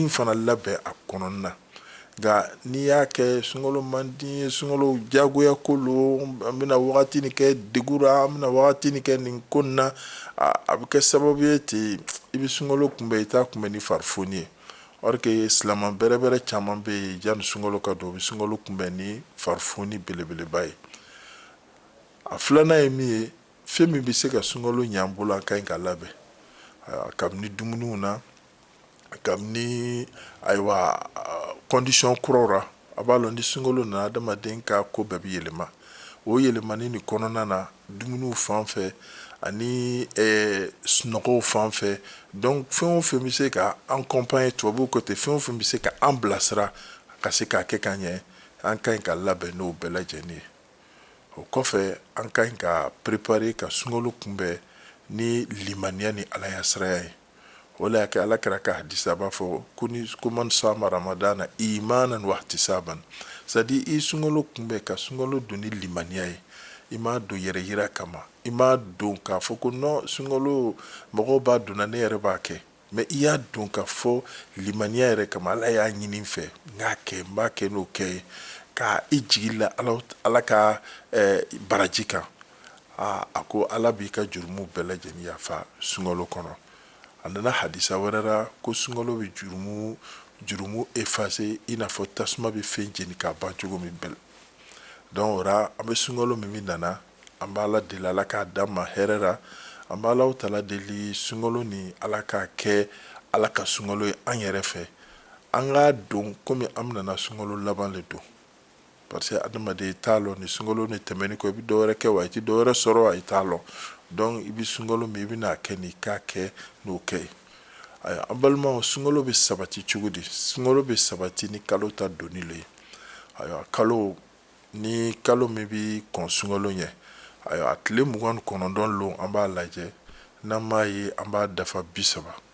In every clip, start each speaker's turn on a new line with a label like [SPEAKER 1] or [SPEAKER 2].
[SPEAKER 1] in fana labɛn a kɔnɔna na nka n'i y'a kɛ sunkalo man di ye sunkalo jagoya ko lo an bɛna wagati ni kɛ degun ra an bɛna wagati ni kɛ nin ko na a bɛ kɛ sababu ye ten i bɛ sunkalo kunbɛn i t'a kunbɛn ni farifoni ye or que silamɛ bɛrɛ bɛrɛ caman bɛ yen yanni sunkalo ka don u bɛ sunkalo kunbɛn ni farifoni belebeleba ye a filanan ye min ye fɛn min bɛ se ka sunkalo ɲɛ an bolo an ka ɲi ka labɛn kabini dumuniw na kabini ayiwa condition kuraw ra a b'a lɔn ni sunkalo nana adamaden ka ko bɛɛ bɛ yɛlɛma o yɛlɛmani ni kɔnɔna na dumuniw fan fɛ ani sunɔgɔw fan fɛ donc fɛn o fɛn bɛ se ka an accompagner tubabuw ko ten fɛn o fɛn bɛ se ka an bilasira ka se k'a kɛ ka ɲɛ an ka ɲi ka labɛn n'o bɛɛ lajɛlen ye o kɔfɛ an ka ɲi ka préparer ka sunkalo kunbɛn ni limaniya ni ala ɲasiranya ye o le y'a kɛ ala kira ka hadisa b'a fɔ ko ni ko man sama ramadana imanan wa ihtisaban c'est-à-dire i sunkalo kunbɛn ka sunkalo don ni limaniya ye i m'a don yɛrɛ yira kama i m'a don k'a fɔ ko non sunkalo mɔgɔw b'a donna ne yɛrɛ b'a kɛ mais i y'a don k'a fɔ limaniya yɛrɛ kama ala y'a ɲini n fɛ n k'a kɛ n b'a kɛ n'o kɛ ye ka i jigi la ala ka eh, baraji kan aa a ko ala b'i ka jurumu bɛɛ lajɛlen yafa sunkalo kɔnɔ a nana hadisa wɛrɛ la ko sunkalo bɛ jurumu jurumu efase i n'a fɔ tasuma bɛ fɛn jeni k'a ban cogo min bɛɛ donc o ra an bɛ sunkalo min min nana an b'ala deli ala k'a d'an ma hɛrɛ la an b'alahu taala deli sunkalo ni ala k'a kɛ ala ka sunkalo ye an yɛrɛ fɛ an k'a don komi an bɛna sunkalo laban le don parce que adamaden i t'a lɔn ni sunkalo ni tɛmɛni kɔ i bɛ dɔwɛrɛ kɛ wa i tɛ dɔwɛrɛ sɔrɔ wa i t'a lɔn donc i bɛ sunkalo min i bɛna a kɛ ni k'a kɛ n'o kɛ ye ayiwa an balimaw sunkalo bɛ sabati cogo di sunkalo bɛ sabati ni kalo ta donni le ye ayiwa kalo ni kalo min bɛ kɔn sunkalo ɲɛ ayiwa a tile mugan ni kɔnɔntɔn lon an b'a lajɛ n'an m'a ye an b'a dafa bi saba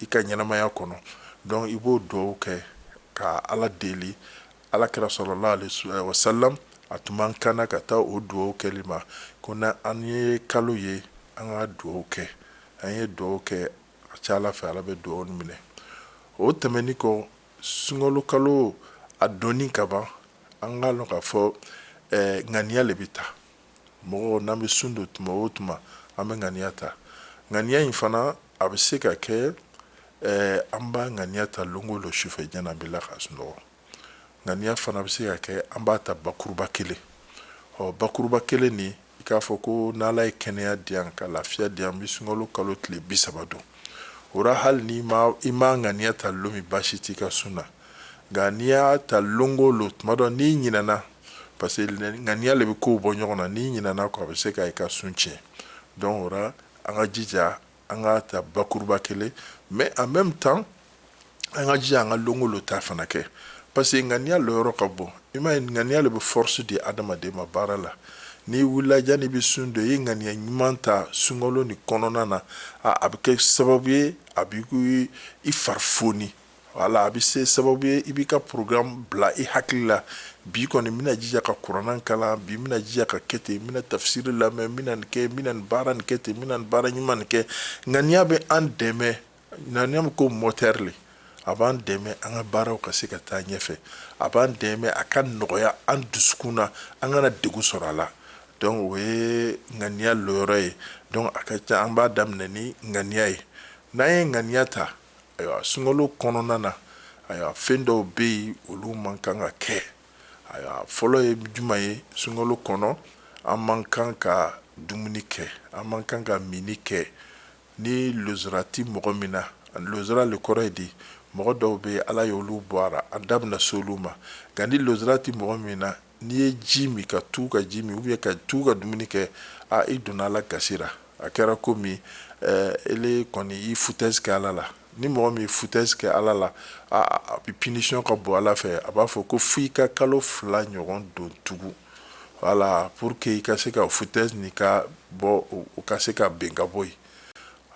[SPEAKER 1] i ka ɲɛnamaya kɔnɔ donc i b'o duwawu kɛ ka ala deli ala kira sallallahu alaihi wasalam a tun b'an kanna ka taa o duwawu kɛli ma ko na an ye kalo ye an ka duwawu kɛ an ye duwawu kɛ a ca ala fɛ ala bɛ duwawu minɛ o tɛmɛnin kɔ sunkalo kalo a donni ka ban an k'a lɔn k'a fɔ eh, ŋaniya le bɛ ta Mɔgɔ n'an bɛ sun don tuma o tuma an bɛ ŋaniya ta ŋaniya in fana a bɛ se ka kɛ an b'a ŋaniya ta lon o lon sufɛ janni an bɛ la ka sunɔgɔ ŋaniya fana bɛ se ka kɛ an b'a ta bakuruba kelen ɔ bakuruba kelen nin i k'a fɔ ko n'ala ye kɛnɛya di yan ka lafiya di yan n bɛ sunkalo kalo tile bi saba don o ra hali ni i ma ŋaniya ta lon min baasi t'i ka sun na nka n'i y'a ta lon o lon tuma dɔ n'i ɲinɛna parce que ŋaniya le bɛ kow bɔ ɲɔgɔn na n'i ɲinɛna kɔ a bɛ se ka i ka sun tiɲɛ donc o la an ka jija an k'a ta bakuruba kelen mais en même temps an ka jija an ka lon o lon ta fana kɛ parce que ŋaniya lɔyɔrɔ ka bon i m'a ye ŋaniya le bɛ force di adamaden ma baara la n'i wulila janni i bɛ sun don i ye ŋaniya ɲuman ta sunkalo ni kɔnɔna na a a bɛ kɛ sababu ye a b'i i fari foni wala a bɛ se sababu ye i b'i ka programme bila i hakili la bi kɔni n bɛna jija ka kuranɛ kalan bi n bɛna jija ka kɛ ten n bɛna tafsiri lamɛn n bɛna nin kɛ n bɛna nin baara nin kɛ ten n bɛna nin baara ɲuman nin kɛ ŋaniya bɛ an dɛmɛ ŋaniya bɛ ko moteur le a b'an dɛmɛ an ka baaraw ka se ka taa ɲɛfɛ a b'an dɛmɛ a ka nɔgɔya an dusukun na an kana degun sɔrɔ a la donc o ye ŋaniya lɔyɔrɔ ye donc a ka ca an b'a daminɛ ni ŋaniya ye n'an ye ŋaniya ta ayiwa sunkalo kɔnɔna na ayiwa fɛn dɔw bɛ yen olu man kan ka kɛ ayiwa fɔlɔ ye juman ye sunkalo kɔnɔ an man kan ka dumuni kɛ an man kan ka mini kɛ ni lozra tɛ mɔgɔ min na lozra le kɔrɔ ye di mɔgɔ dɔw bɛ yen ala ye olu bɔ a ra an da bɛna se olu ma nka ni lozra tɛ mɔgɔ min na n'i ye ji min ka tugu ka ji min ou bien ka tugu ka dumuni kɛ a i donna ala gasi ra a kɛra komi eh, ele kɔni i foutaise kɛ ala la ni mɔgɔ min foutaise kɛ ala la a bi punition ka bon ala fɛ a b'a fɔ ko fo i ka kalo fila ɲɔgɔn don tugu voilà pour que i ka se ka foutaise ni ka bɔ o ka se ka ben ka bɔ yen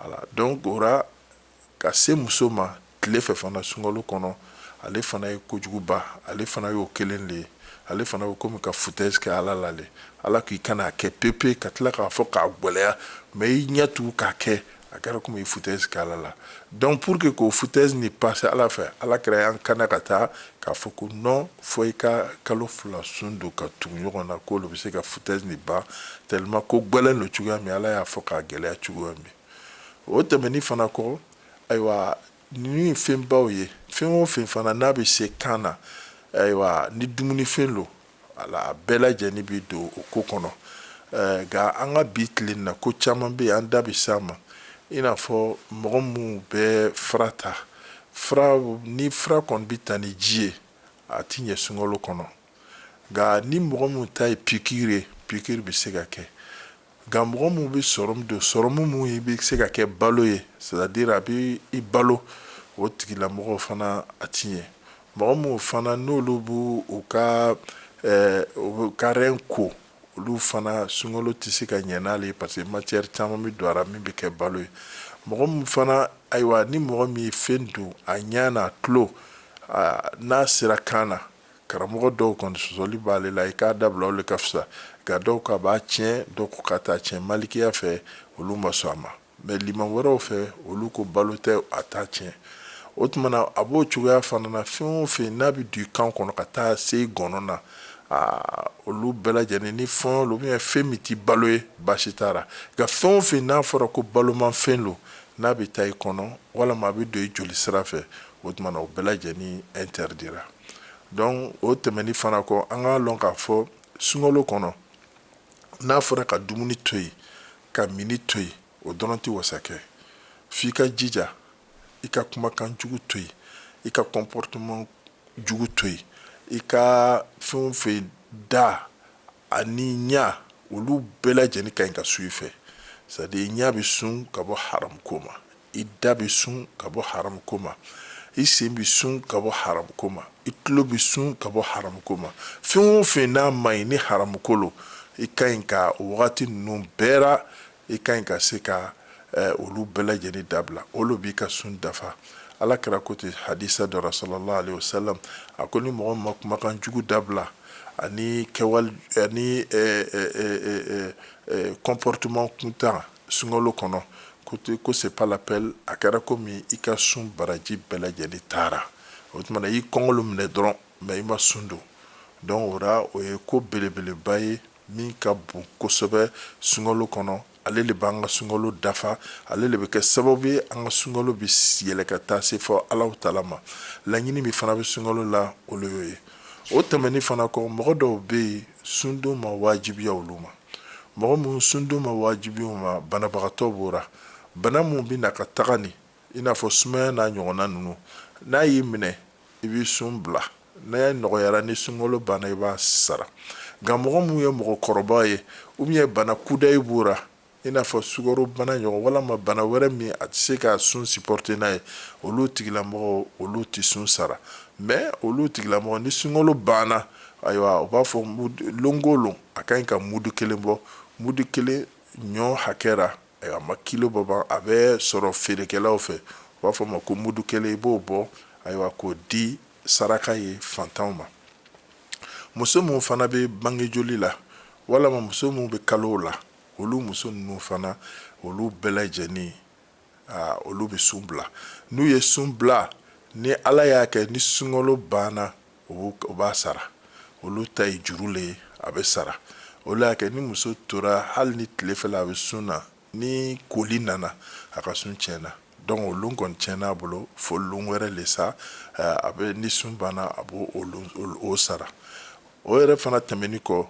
[SPEAKER 1] voilà donc o ra Ka se muso ma tile fɛ fana sunkalo kɔnɔ, ale fana ye kojuguba, ale fana y'o kelen le ye, ale fana bɛ komi ka foutaise kɛ Ala la le, Ala k'i kana a kɛ pepe, ka tila k'a fɔ k'a gwɛlɛya, mais i ɲɛ tugu k'a kɛ, a kɛra komi i ye foutaise kɛ Ala la. Donc pour que k'o foutaise ni passer Ala fɛ, Ala kira y'an kanna ka taa k'a fɔ ko non fo i ka kalo fila sun don ka tugu ɲɔgɔn na, k'o le bɛ se ka foutaise ni ban tellement ko gwɛlɛn lo cogoya min, Ala y'a fɔ k'a gɛlɛya cogoya min. o tɛmɛni fana kɔ ayiwa ninnu ye fɛnbaw ye fɛn o fɛn fana n'a bɛ se kan na ayiwa ni dumunifɛn lo ala a bɛɛ lajɛlen bɛ don o ko kɔnɔ nka an ka bi tile in na ko caman bɛ yen an da bɛ s'a ma i n'a fɔ mɔgɔ minnu bɛ fura ta ni fura kɔni bɛ ta ni ji ye a ti ɲɛ sunkalo kɔnɔ nka ni mɔgɔ minnu ta ye pikiri ye pikiri bɛ se ka kɛ Nka mɔgɔ minnu bɛ sɔrɔmu don sɔrɔmu minnu bɛ se ka kɛ balo ye c'est à dire a bɛ i balo o tigilamɔgɔw fana a ti ɲɛ mɔgɔ minnu fana n'olu b'u ka rein ko olu fana sunkalo tɛ se ka ɲɛ n'ale ye parce que matière caman bɛ don a la min bɛ kɛ balo ye mɔgɔ min fana ayiwa ni mɔgɔ min ye fɛn don a ɲɛ na a tulo n'a sera kan na Karamɔgɔ dɔw kɔni sɔsɔli b'ale la i k'a dabila o le ka fisa nka dɔw k'a b'a tiɲɛ dɔw ko k'a t'a tiɲɛ malikiya fɛ olu ma sɔn a ma mais liman wɛrɛw fɛ olu ko balo tɛ a t'a tiɲɛ o tuma na a b'o cogoya fana na fɛn o fɛn n'a bɛ don i kan kɔnɔ ka taa se i gɔnɔ na olu bɛɛ lajɛlen ni fɛn lo ou bien fɛn min ti balo ye baasi t'a la nka fɛn o fɛn n'a fɔra ko balomafɛn lo n'a bɛ taa i kɔnɔ walima a bɛ don i joli sira fɛ o tuma na o bɛɛ lajɛlen interdira donc o tɛmɛni fana kɔ an k'a lɔn k'a fɔ sunkalo kɔnɔ n'a fɔra ka dumuni to yen ka mini to yen o dɔrɔn tɛ wasa kɛ f'i ka jija i ka kumakan jugu to yen i ka comportement jugu to yen i ka fɛn o fɛn da ani ɲa olu bɛɛ lajɛlen ka ɲi ka sun i fɛ c'est à dire i ɲa bɛ sun ka bɔ haramu ko ma i da bɛ sun ka bɔ haramu ko ma i sen bɛ sun ka bɔ haramu ko ma i tulo bɛ sun ka bɔ haramu ko ma fɛn o fɛn n'a ma ɲi ni haramu ko lo i ka ɲi ka o wagati ninnu bɛɛ la i ka ɲi ka se ka eh, olu bɛɛ lajɛlen dabila olu b'i ka sun dafa ala kira ko ten hadisa dɔ la sallallahu alaihi wasallam a ko ni mɔgɔ ma kumakan jugu dabila ani kɛwale ani eh, eh, eh, comportement kuntan sunkalo kɔnɔ ko te ko c'est pas la peine a kɛra komi i ka sun baraji bɛɛ lajɛlen taara o tuma na i kɔngɔ lo minɛ dɔrɔn mais i ma sun don donc o ra o ye ko belebeleba ye min ka bon kosɛbɛ sunkalo kɔnɔ ale le b'an ka sunkalo dafa ale le bɛ kɛ sababu ye an ka sunkalo bɛ yɛlɛ ka taa se fɔ alahu taala ma laɲini min fana bɛ sunkalo la olu y'o ye o tɛmɛni fana kɔ mɔgɔ dɔw bɛ yen sundon ma wajibiya olu ma mɔgɔ minnu sundon ma wajibiya u ma banabagatɔ b'o ra bana minnu bɛ na ka taga nin i n'a fɔ sumaya n'a ɲɔgɔnna ninnu n'a y'i minɛ i b'i sun bila n'a ye nɔgɔyara ni sunkalo banna i b'a sara nka mɔgɔ minnu ye mɔgɔkɔrɔba ye ou bien bana kudayi b'o ra i n'a fɔ sukaro bana ɲɔgɔn walima bana wɛrɛ min a tɛ se ka sun sipɔrite n'a ye olu tigilamɔgɔ olu tɛ sun sara mɛ olu tigilamɔgɔ ni sunkalo banna ayiwa u b'a fɔ lon o lon a ka ɲi ka mudu kelen bɔ mudu kelen ɲɔ hakɛ ra a ma kilo bɔ ban a bɛ sɔrɔ feerekɛlaw fɛ u b'a fɔ a ma ko mudu kelen i b'o bɔ ayiwa k'o di saraka ye fantanw ma muso minnu fana bɛ bange joli la walima muso minnu bɛ kalow la olu muso ninnu fana olu bɛɛ lajɛlen olu bɛ sun bila n'u ye sun bila ni ala y'a kɛ ni sunkalo banna u b'a sara olu ta ye juru le ye a bɛ sara o le y'a kɛ ni muso tora hali ni tilefɛla a bɛ sun na ni koli nana a ka sun tiɲɛna donc o lon kɔni tiɲɛna a bolo fo lon wɛrɛ le sa eh, a bɛ ni sun banna a b'o o sara o yɛrɛ fana tɛmɛni kɔ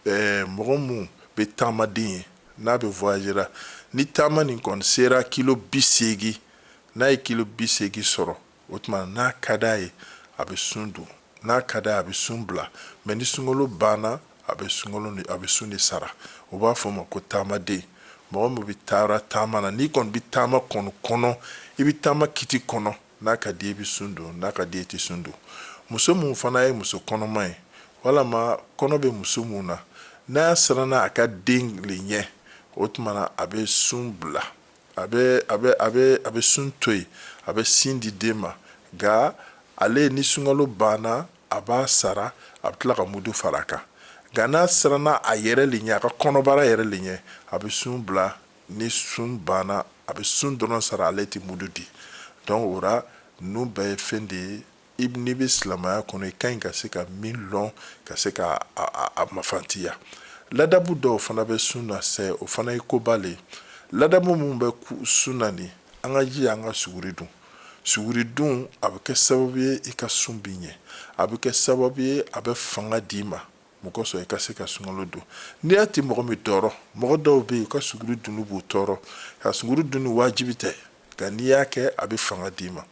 [SPEAKER 1] eh, mɔgɔ minnu bɛ taamaden ye n'a bɛ voyage ra ni taama nin kɔni sera kilo bi seegin n'a ye kilo bi seegin sɔrɔ o tuma n'a ka d'a ye a bɛ sun don n'a ka d'a ye a bɛ sun bila mɛ ni sunkalo banna a bɛ sunkalo a bɛ sun de sara o b'a fɔ ma ko taamaden mɔgɔ min bɛ taara taama na n'i kɔni bɛ taama kɔni kɔnɔ i bɛ taama kiti kɔnɔ n'a ka di i bɛ sun don n'a ka di i tɛ sun don muso min fana ye muso kɔnɔma ye walama kɔnɔ bɛ muso min na n'a siranna a ka den le ɲɛ o tuma na a bɛ sun bila a bɛ a bɛ a bɛ a bɛ sun to yen a bɛ sin di den ma nka ale ni sunkalo banna a b'a sara a bɛ tila ka mudu fara a kan nka n'a siranna a yɛrɛ le ɲɛ a ka kɔnɔbara yɛrɛ le ɲɛ a bɛ sun bila ni sun banna a bɛ sun dɔrɔn sara ale tɛ mudu di donc o ra ninnu bɛɛ ye fɛn de ye i n'i bɛ silamɛya kɔnɔ i ka ɲi ka se ka min lɔn ka se ka a mafantiya ladabu dɔw fana bɛ sun na sɛ o fana ye koba le ye ladabu minnu bɛ sun na nin an ka jija an ka suguri dun suguri dun a bɛ kɛ sababu ye i ka sun bi ɲɛ a bɛ kɛ sababu ye a bɛ fanga d'i ma mun kosɔn i ka se ka sunkalo don n'i y'a ti mɔgɔ min tɔɔrɔ mɔgɔ dɔw bɛ yen u ka suguri dunni b'u tɔɔrɔ ka suguri dunni wajibi tɛ nka n'i y'a kɛ a bɛ fanga d'i ma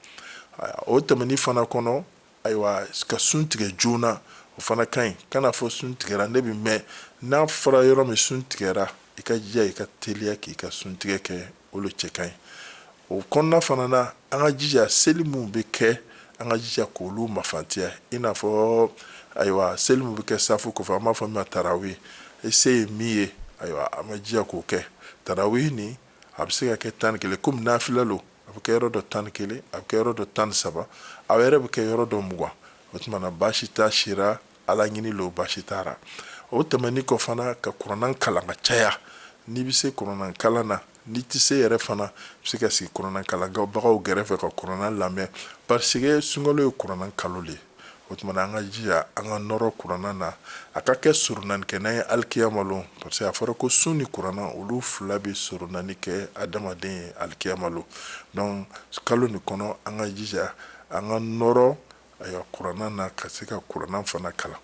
[SPEAKER 1] o tɛmɛni fana kɔnɔ ayiwa ka sun tigɛ joona o fana ka ɲi kana fɔ sun tigɛra ne bɛ mɛn n'a fɔra yɔrɔ min sun tigɛra i ka jija i ka teliya k'i ka sun tigɛ kɛ olu cɛ ka ɲi o kɔnɔna fana na an ka jija seli minnu bɛ kɛ an ka jija k'olu mafantiya i n'a fɔ ayiwa seli minnu bɛ kɛ safu kɔfɛ an b'a fɔ min ma tarawe i se ye min ye ayiwa an ka jija k'o kɛ tarawe nin a bɛ se ka kɛ tan ni kelen komi nafila lo a bɛ kɛ yɔrɔ dɔ tan ni kelen a bɛ kɛ yɔrɔ dɔ tan ni saba a yɛrɛ bɛ kɛ yɔrɔ dɔ mugan o tuma na baasi t'a sira ala ɲini lo baasi t'a ra o tɛmɛni kɔ fana ka kuranɛ kalan ka caya n'i bɛ se kuranɛ kalan na n'i tɛ se yɛrɛ fana bɛ se ka sigi kuranɛ kalanbagaw gɛrɛfɛ ka kuranɛ lamɛn parce que sunkalo ye kuranɛ kalo le ye o tuma na an ka jija an ka nɔrɔ kuranɛ na a ka kɛ soronani kɛ n'an ye alikiyama lon parce que a fɔra ko sun ni kuranɛ olu fila bɛ soronani kɛ adamaden ye alikiyama lon donc kalo nin kɔnɔ an ka jija an ka nɔrɔ ayiwa kuranɛ na ka se ka kuranɛ fana kalan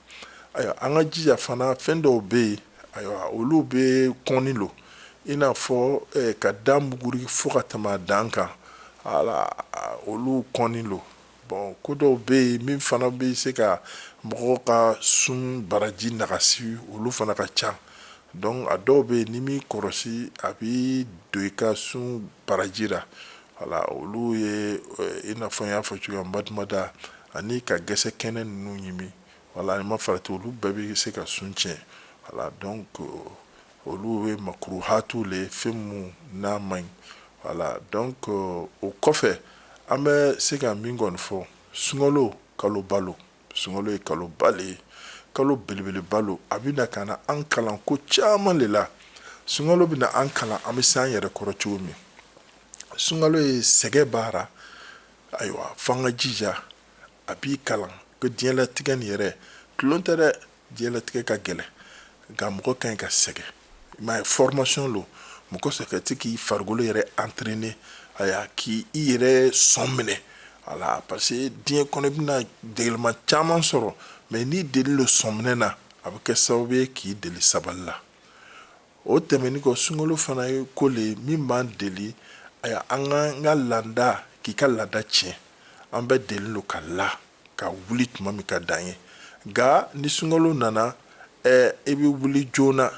[SPEAKER 1] ayiwa an ka jija fana fɛn dɔw bɛ yen ayiwa olu bɛ kɔnni lo i n'a fɔ eh, ka da muguri fo ka tɛmɛ a dan kan wala olu kɔnni lo bon ko dɔw bɛ yen min fana bɛ se ka mɔgɔw ka sun baraji nagasi olu fana ka ca donc a dɔw bɛ yen n'i m'i kɔlɔsi a bɛ don i ka sun baraji la wala olu ye eh, i n'a fɔ n y'a fɔ cogoya madumada ani ka gɛsɛ kɛnɛ ninnu ɲimi wala n'i ma farati olu bɛɛ bɛ se ka sun tiɲɛ wala donc olu ye makuruhatu le fɛn minnu n'a man ɲi voilà donc euh, o kɔfɛ an bɛ se ka min kɔni fɔ sunkalo kalo ba lo sunkalo ye kalo ba le ye kalo belebeleba lo a bɛ na ka na an kalan ko caman le la sunkalo bɛ na an kalan an bɛ se an yɛrɛ kɔrɔ cogo min sunkalo ye sɛgɛn baara ayiwa f'an ka jija a b'i kalan ko diɲɛlatigɛ nin yɛrɛ tulon tɛ dɛ Diɲɛlatigɛ ka gɛlɛn nka mɔgɔ ka ɲi ka sɛgɛn i m'a ye formation lo mɔgɔ sɛ ka se k'i farikolo yɛrɛ entraîner ayiwa k'i yɛrɛ sɔn minɛ a la parce que diɲɛ kɔnɔ i bɛna degeliman caman sɔrɔ mais n'i deli lo sɔn minɛ na a bɛ kɛ sababu ye k'i deli sabali la o tɛmɛni kɔ sunkalo fana ye ko le ye min b'an deli ayiwa an ka n ka laada k'i ka laada tiɲɛ an bɛ deli lo ka la ka wuli tuma min ka d'an ye nka ni sunkalo nana ɛɛ i bɛ wuli joona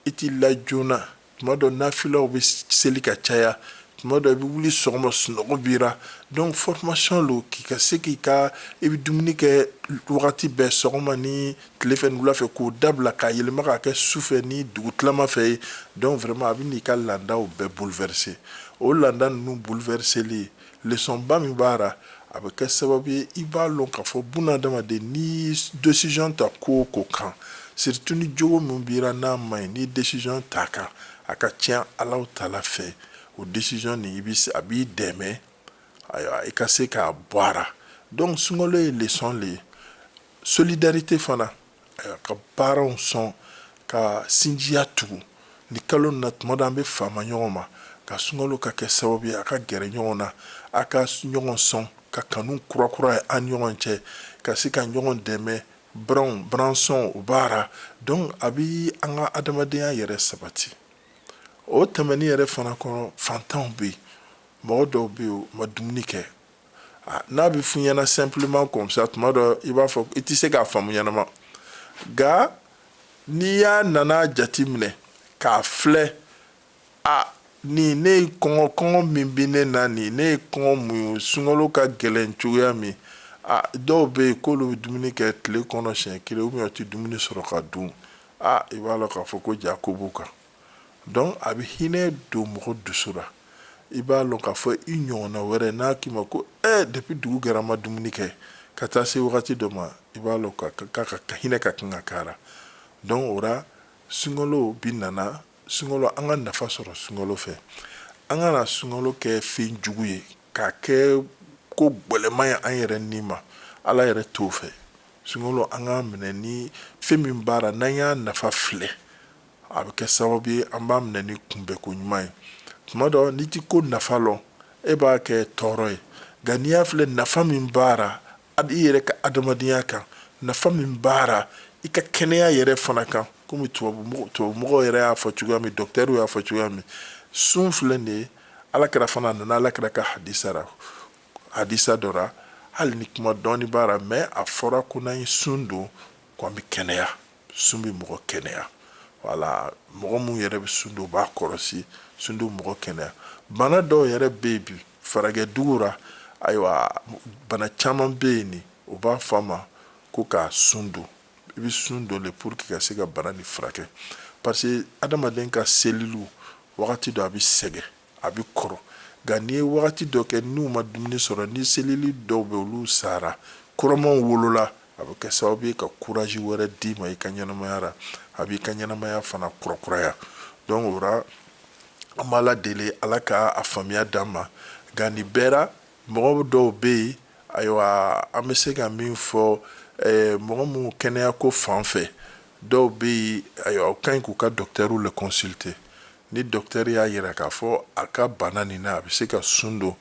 [SPEAKER 1] i t'i la joona tuma dɔ nafilaw bɛ seli ka caya tuma dɔ i bɛ wuli sɔgɔma sunɔgɔ b'i ra donc formation lo k'i ka se k'i ka i bɛ dumuni kɛ wagati bɛɛ sɔgɔma ni tile fɛ ni wula fɛ k'o dabila k'a yɛlɛma k'a kɛ su fɛ ni dugu tilama fɛ ye donc vraiment a bɛ n'i ka laadaw bɛɛ bouleverser o laada ninnu bouleverseli leçon ba min b'a ra a bɛ kɛ sababu ye i b'a lɔn k'a fɔ bunadamaden n'i décision ta ko o ko kan surtout ni jogo min b'i ra n'a man ɲi n'i décision t'a kan a ka tiɲɛ Alahu Taala fɛ o décision nin a b'i dɛmɛ ayiwa i ka se k'a bɔ a ra donc sunkalo ye leçon le ye solidarité fana ka biranw sɔn ka sinjiya tugu ni kalo na tuma dɔ an bɛ fama ɲɔgɔn ma ka sunkalo ka kɛ sababu ye a ka gɛrɛ ɲɔgɔn na a ka ɲɔgɔn sɔn ka kanu kurakuraya an ɲɔgɔn cɛ ka se ka ɲɔgɔn dɛmɛ biranw biransɔn o b'a ra donc a bɛ an ka adamadenya yɛrɛ sabati o tɛmɛni yɛrɛ fana kɔnɔ fantanw bɛ yen mɔgɔ dɔw bɛ yen u ma dumuni kɛ Ah, n'a bɛ f'i ɲɛna simplement comme ça tuma dɔ i b'a fɔ i tɛ se k'a faamu ɲɛnama nka n'i y'a nana jate minɛ k'a filɛ a ni ne ye kɔngɔ kɔngɔ min bɛ ne na ni ne ye kɔngɔ mun ye sunkalo ka gɛlɛn cogoya min a dɔw bɛ yen k'olu bɛ dumuni kɛ tile kɔnɔ siɲɛ kelen u bɛ tɛ dumuni sɔrɔ ka dun a i b'a lɔn k'a fɔ ko ja ko b'u kan donc a bɛ hinɛ don mɔgɔ dusu la i b'a lɔn k'a fɔ i ɲɔgɔnna wɛrɛ n'a k'i ma ko ɛ depuis dugu gɛra a ma dumuni kɛ ka taa se wagati dɔ ma i b'a lɔn k'a ka hinɛ ka kan ka k'a ra donc o ra sunkalo bi nana sunkalo an ka nafa sɔrɔ sunkalo fɛ an kana sunkalo kɛ fɛn jugu ye k'a kɛ ko gwɛlɛman ye an yɛrɛ ni ma ala yɛrɛ t'o fɛ sunkalo an k'a minɛ ni fɛn min b'a la n'an y'a nafa filɛ a bɛ kɛ sababu ye an b'a minɛ ni kunbɛn ko ɲuman ye tuma dɔ n'i tɛ ko nafa lɔn e b'a kɛ tɔɔrɔ ye nka n'i y'a filɛ nafa min b'a ra a i yɛrɛ ka adamadenya kan nafa min b'a ra i ka kɛnɛya yɛrɛ fana kan komi tubabumɔgɔw yɛrɛ y'a fɔ cogoya min dɔkitɛriw y'a fɔ cogoya min sun filɛ nin ye ala kira fana nana ala kira ka hadisa ra hadisa dɔ ra hali ni kuma dɔɔni b'a ra mais a fɔra ko n'an ye sun don ko an bɛ kɛnɛya sun bɛ mɔgɔ kɛnɛya wala mɔgɔ minnu yɛrɛ bɛ sun don u b'a kɔlɔsi sun don mɔgɔ kɛnɛya bana dɔw yɛrɛ bɛ yen bi faragwɛ dugu la ayiwa bana caman bɛ yen ni u b'a fɔ a ma ko ka sun don i bɛ sun don le pour que ka se ka bana nin furakɛ parce que adamaden ka seliliw wagati dɔ a bɛ sɛgɛn a bɛ kɔrɔ nka n'i ye wagati dɔ kɛ n'u ma dumuni sɔrɔ ni selili dɔw bɛ olu sara kuramanw wolola a bɛ kɛ sababu ye ka courage wɛrɛ d'i ma i ka ɲɛnamaya ra a b'i ka ɲɛnamaya fana kurakuraya donc o ra an b'ala deli ala ka a faamuya d'an ma nka nin bɛɛ ra mɔgɔ dɔw bɛ yen ayiwa an bɛ se ka min fɔ eh, mɔgɔ minnu kɛnɛya ko fan fɛ dɔw bɛ yen ayiwa u ka ɲi k'u ka dɔkitɛriw le consulter ni dɔkitɛri y'a yira k'a fɔ a ka bana nin na a bɛ se ka sun don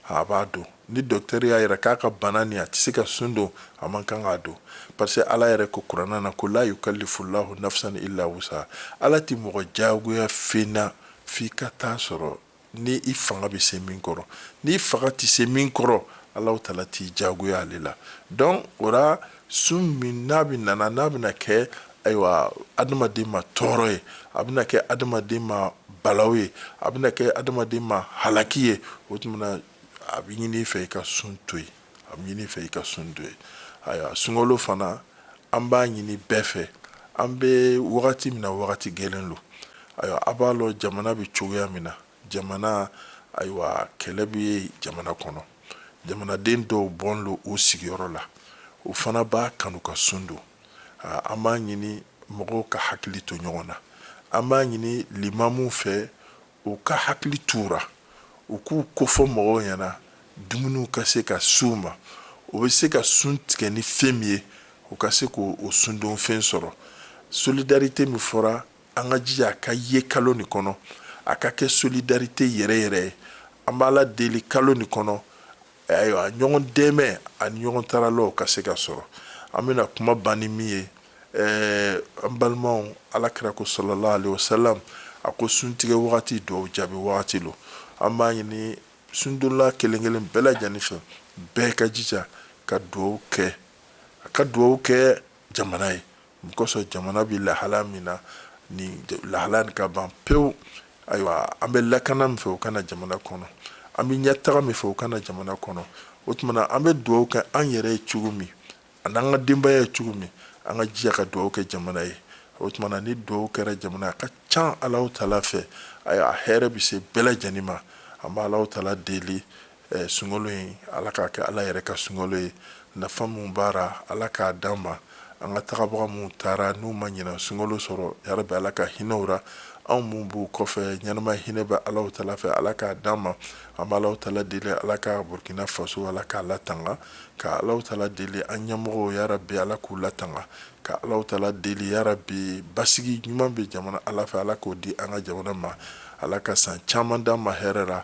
[SPEAKER 1] a b'a don ni dɔkitɛri y'a yira k'a ka bana nin a tɛ se ka sun don a man kan k'a don parce que ala yɛrɛ ko kurana na ko la yukallifulahu nafsan illa wusa ala tɛ mɔgɔ jagoya fɛn na f'i ka taa sɔrɔ ni i fanga bɛ se min kɔrɔ n'i fanga tɛ se min kɔrɔ alahu tala t'i jagoya ale la donc o sun min n'a bɛ nana n'a bɛna kɛ ayiwa adamaden ma tɔɔrɔ ye a bɛna kɛ adamaden ma balaw ye a bɛna kɛ adamaden ma halaki ye o tuma na a bɛ ɲini i fɛ i ka sun to yen a bɛ ɲini i fɛ i ka sun to yen ayiwa sunkalo fana an b'a ɲini bɛɛ fɛ an bɛ wagati min na wagati gɛlɛn lo ayiwa a b'a lɔn jamana bɛ cogoya min na Jamana ayiwa kɛlɛ bɛ jamana kɔnɔ jamanaden dɔw bɔnin lo u sigiyɔrɔ la u fana b'a kanu ka sun don an b'a ɲini mɔgɔw ka hakili to ɲɔgɔn na an b'a ɲini limamuw fɛ u ka hakili to u ra u k'u kofɔ mɔgɔw ɲɛna dumuniw ka se ka s'u ma u bɛ se ka sun tigɛ ni fɛn min ye u ka se k'o sundon fɛn sɔrɔ solidarite min fɔra an ka jija a ka ye kalo nin kɔnɔ a ka kɛ solidarite yɛrɛ yɛrɛ ye an b'ala deli kalo nin kɔnɔ ayiwa ɲɔgɔn dɛmɛ ani ɲɔgɔn taralaw ka se ka sɔrɔ an bɛna kuma ban ni min ye ɛɛ an balimaw ala kira ko salalahu alayhi wasalam a ko suntigɛ wagati duwawu jaabi wagati lo an b'a ɲini sundonla kelen kelen bɛɛ lajɛlen fɛ bɛɛ ka jija ka duwawu kɛ a ka duwawu kɛ jamana ye N kosɔn jamana bɛ lahala min na ni lahala nin ka ban pewu ayiwa an bɛ lakana min fɛ o ka na jamana kɔnɔ an bɛ ɲɛtaga min fɛ o ka na jamana kɔnɔ o tuma na an bɛ duwawu kɛ an yɛrɛ ye cogo min ani an ka denbaya ye cogo min an ka jija ka duwawu kɛ jamana ye o tuma na ni duwawu kɛra jamana a ka ca ala tala fɛ ayiwa a hɛrɛ bɛ se bɛɛ lajɛlen ma an bɛ ala tala deli Eh, sunkalo in ala k'a kɛ ala yɛrɛ ka sunkalo ye nafa min b'a ra ala k'a d'an ma an ka tagabaga minnu taara n'u ma ɲinan sunkalo sɔrɔ yarabi ala ka hinɛ u ra anw minnu b'u kɔfɛ ɲɛnama hinɛ bɛ alahu tala fɛ ala k'a d'an ma an bɛ alahu tala deli ala ka burkina faso ala k'a latanga ka alahu tala deli an ɲɛmɔgɔw yarabi ala k'u latanga ka alahu tala deli yarabi basigi ɲuman bɛ jamana ala fɛ ala k'o di an ka jamana ma ala ka san caman d'an ma hɛrɛ ra